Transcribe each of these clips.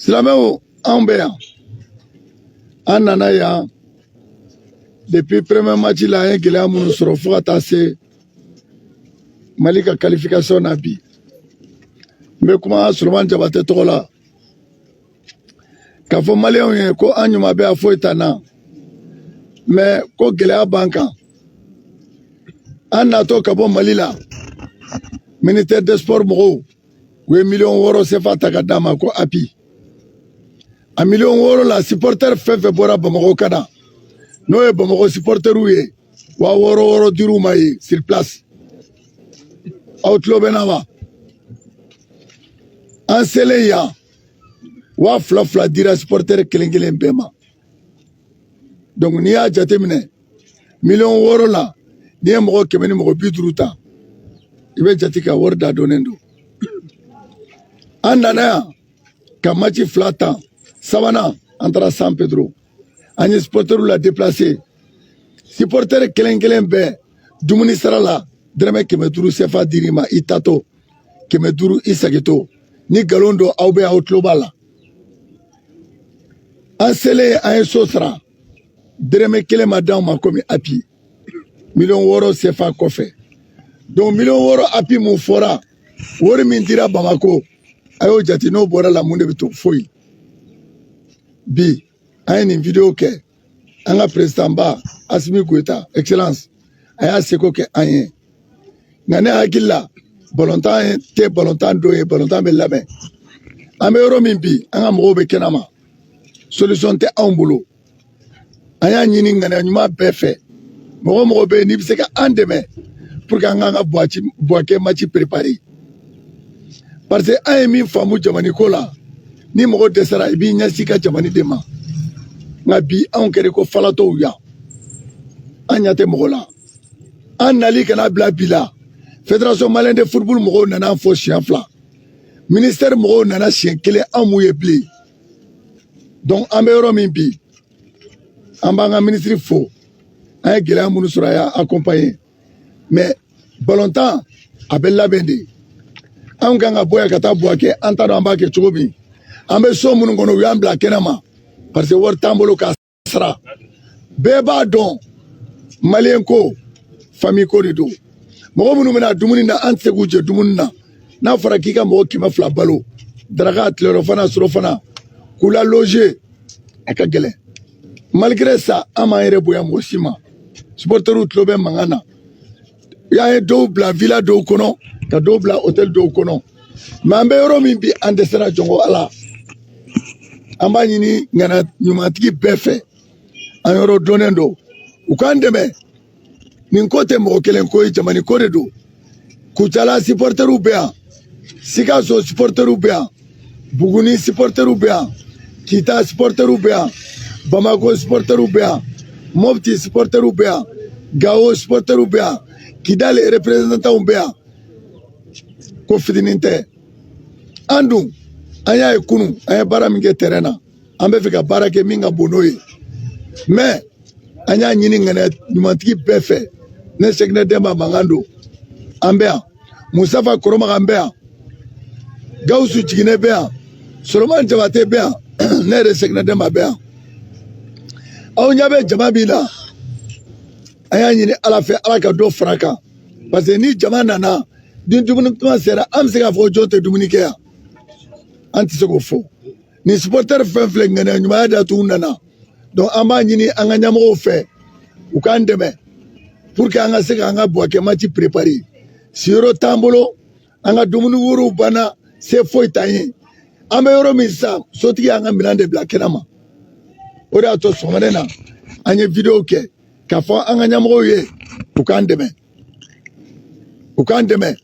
silamɛw anw bɛ yan an nana yan depuis premier match la an ye gɛlɛya minnu sɔrɔ fo ka taa se mali ka qualification na bi n bɛ kuma solomani jabatɛ tɔgɔ la k'a fɔ maliyɛnw ye ko an ɲuman bɛ yan foyi t'an na mais ko gɛlɛya b'an kan an natɔ ka bɔ mali la ministère des sports mɔgɔw u ye miliyɔn wɔɔrɔ sefa ta ka d'an ma ko appui a miliyɔn wɔɔrɔ la sipɔrtɛri fɛn fɛn bɔra bamakɔ ka na n'o ye bamakɔ sipɔrtɛriw ye waa wɔɔrɔ wɔɔrɔ dir'u ma yen sur place aw tulo bɛ n na wa an selen yan waa fila fila dira sipɔrtɛri kelen kelen bɛɛ ma n'i y'a jateminɛ miliyɔn wɔɔrɔ la n'i ye mɔgɔ kɛmɛ ni mɔgɔ bi duuru ta i bɛ jate ka wari da dɔnnen don an nana yan ka maci fila tan sabanan an taara san pedro an ye sipɔtɛriw la deplase sipɔtɛri kelen kelen bɛɛ dumuni sarala dɛrɛmɛ kɛmɛ duuru sefa dir'i ma i taatɔ kɛmɛ duuru i segintɔ ni nkalon don aw bɛ aw tulo b'a la an selen an ye so sara dɛrɛmɛ kelen ma d'anw ma komi appui miliyɔn wɔɔrɔ sefa kɔfɛ donc miliyɔn wɔɔrɔ appui min fɔra wari min dira bamakɔ a y'o jate n'o bɔr'a la mun de bɛ to foyi bi an ye nin video kɛ an ka perezidanba asimi goyita excellence a y'a seko kɛ an ye nka ne hakili la balontan tɛ balontan don ye balontan bɛ labɛn an bɛ yɔrɔ min bi an ka mɔgɔw bɛ kɛnɛ ma solution tɛ anw bolo an y'a ɲini ŋaniya ɲuman bɛɛ fɛ mɔgɔ mɔgɔ bɛ yen n'i bɛ se ka an dɛmɛ pour que an k'an ka buwakɛ maci perepare parce que an ye min faamu jamana ko la ni mɔgɔ dɛsɛra i b'i ɲɛsin ka jamana de ma nka bi anw kɛra ko falatɔw yan an ɲɛ tɛ mɔgɔ la an nali ka na bila bi la fédération malienne de football mɔgɔw nana an fo siɲɛ fila ministɛri mɔgɔw nana siɲɛ kelen an m'u ye bilen donc an bɛ yɔrɔ min bi an b'an ka minisiri fo an ye gɛlɛya minnu sɔrɔ a y'an accompagner mais balontan a bɛ labɛn de anw kan ka bɔ yan ka taa buwakɛ an t'a dɔn an b'a kɛ cogo min an bɛ so minnu kɔnɔ u y'an bila kɛnɛ ma parce que wari t'an bolo k'a sara bɛɛ b'a dɔn maliyɛn ko famille ko de don mɔgɔ minnu bɛ na dumuni na an tɛ se k'u jɛ dumuni na n'a fɔra k'i ka mɔgɔ kɛmɛ fila balo daraka tilerɔfana surɔfana k'u la loze a ka gɛlɛn malgré ça an m'an yɛrɛ bonya mɔgɔ si ma sipɔrtɛriw tulo bɛ mankan na y'an ye dɔw bila vila dɔw kɔnɔ ka dɔw bila hotɛli dɔw kɔnɔ mɛ an bɛ yɔrɔ min bi an dɛsɛra jɔngɔ ala an b'a ɲini ŋaniya ɲumantigi bɛɛ fɛ an yɔrɔ dɔnnen don u k'an dɛmɛ nin ko tɛ mɔgɔ kelen ko ye jamana ko de don kucala sipɔrtɛriw bɛ yan sikaso sipɔrtɛriw bɛ yan buguni sipɔrtɛriw bɛ yan kita sipɔrtɛriw bɛ yan bamako sipɔrtɛriw bɛ yan mopti sipɔrtɛriw bɛ yan gawo sipɔrtɛriw bɛ yan kidali reprezantanw bɛ yan ko fitinin tɛ an dun an y'a ye kunun an ye baara min kɛ tɛrɛn na an bɛ fɛ ka baara kɛ min ka bon n'o ye mɛ an y'a ɲini ŋaniya ɲumantigi bɛɛ fɛ ne sekina dɛnba mankan don an bɛ yan musafa koromagan bɛ yan gawusu jiginɛ bɛ yan soloman jabate bɛ yan ne yɛrɛ sekina dɛnba bɛ yan aw ɲɛ bɛ jama min na an y'a ɲini ala fɛ ala ka dɔ fara kan parce que ni jama nana ni dumuni kuma sera an bɛ se k'a fɔ jɔn tɛ dumuni kɛ yan an tɛ se k'o fɔ nin supporter fɛn filɛ ŋaniya ɲumanya de y'a to u nana donc an b'a ɲini an ka ɲɛmɔgɔw fɛ u k'an dɛmɛ pour que an ka se ka an ka buwake match préparer siyɔrɔ t'an bolo an ka dumuni wariw banna se foyi t'an ye an bɛ yɔrɔ min sisan sotigi y'an ka minɛn de bila kɛnɛ ma o de y'a to sɔgɔmada in na an ye video kɛ k'a fɔ an ka ɲɛmɔgɔw ye u k'an dɛmɛ u k'an dɛmɛ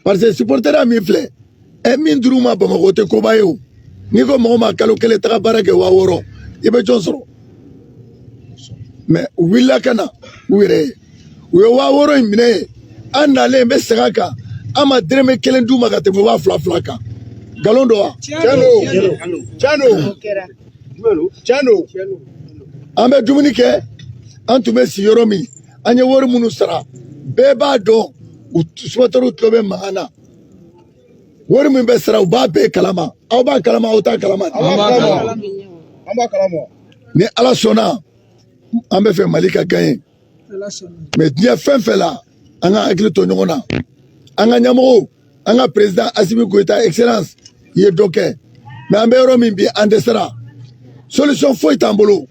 parce que supporter min filɛ ɛ min dir'u ma bamakɔ o tɛ koba ye o n'i ko mɔgɔ ma kalo kelen taga baara kɛ waa wɔɔrɔ i bɛ jɔn sɔrɔ mɛ u wulila ka na u yɛrɛ ye u ye waa wɔɔrɔ in minɛ yen an nalen bɛ segin a kan an ma dɛrɛmɛ kelen d'u ma ka tɛmɛ waa fila fila kan nkalon don wa tiɲɛ don tiɲɛ don tiɲɛ don an bɛ dumuni kɛ an tun bɛ si yɔrɔ min an ye wari minnu sara bɛɛ b'a dɔn u supporteriw tulo bɛ mankan na wari min bɛ sara u b'a bɛɛ kalama aw b'a kalama aw t'a kalama ni ala sɔnna an bɛ fɛ mali ka gagner mɛ diɲɛ fɛn fɛn la an ka hakili to ɲɔgɔn na an ka ɲɛmɔgɔw an ka president asimi goyita excellence i ye dɔ kɛ mɛ an bɛ yɔrɔ min bi an dɛsɛra solution foyi t'an bolo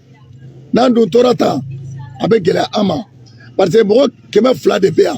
n'an dun tora tan a bɛ gɛlɛya an ma parce que mɔgɔ kɛmɛ fila de bɛ yan